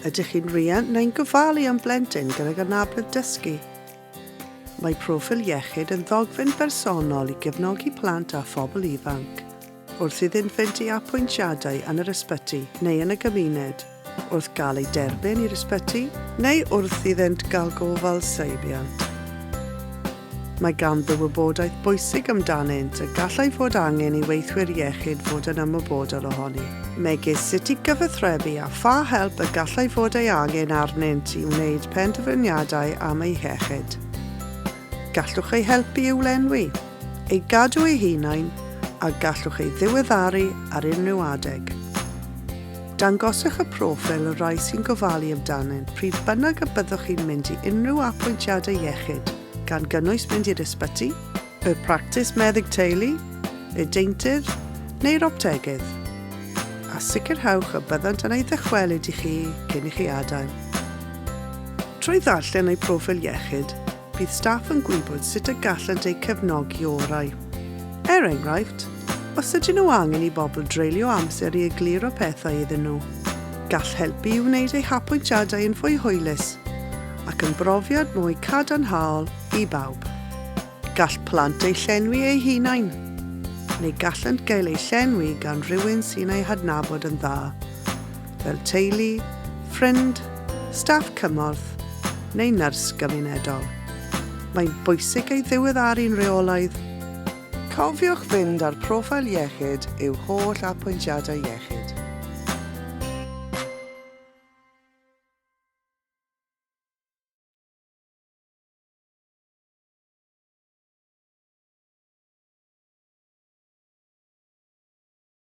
Ydych chi'n riant neu'n gofalu am blentyn gydag anabledd dysgu? Mae Proffil Iechyd yn ddogfen bersonol i gefnogi plant a phobl ifanc wrth iddynt fynd i apwyntiadau yn yr ysbyty neu yn y gymuned, wrth gael eu derbyn i'r ysbyty, neu wrth iddynt gael gofal seibiant. Mae ganddo wybodaeth bwysig amdanynt y gallai fod angen i weithwyr iechyd fod yn ymwybodol ohoni, megis sut i gyfathrebu a pha help y gallai fod ei angen arnynt i wneud penderfyniadau am eu hiechyd. Gallwch eu helpu i'w lenwi, eu gadw eu hunain, a gallwch eu diweddaru ar unrhyw adeg. Dangoswch y proffil y rhai sy'n gofalu amdanynt pryd bynnag y byddwch chi'n mynd i unrhyw apwyntiadau iechyd, gan gynnwys mynd i'r ysbyty, y practis meddyg teulu, y deintydd neu'r optegydd, a sicrhewch y byddant yn ei ddychwelyd i chi cyn i chi adael. Trwy ddarllen eu proffil iechyd, Bydd staff yn gwybod sut y gallant eu cefnogi orau. Er enghraifft, os ydyn nhw angen i bobl dreulio amser i egluro pethau iddyn nhw, gall helpu i wneud eu hapwyntiadau yn fwy hwylus ac yn brofiad mwy cadarnhaol i bawb. Gall plant eu llenwi eu hunain, neu gallant gael eu llenwi gan rywun sy'n eu hadnabod yn dda. fel teulu, ffrind, staff cymorth neu nyrs gymunedol. Mae'n bwysig ei ddiweddaru'n rheolaidd. Cofiwch fynd â'r proffil iechyd i'w holl apwyntiadau iechyd.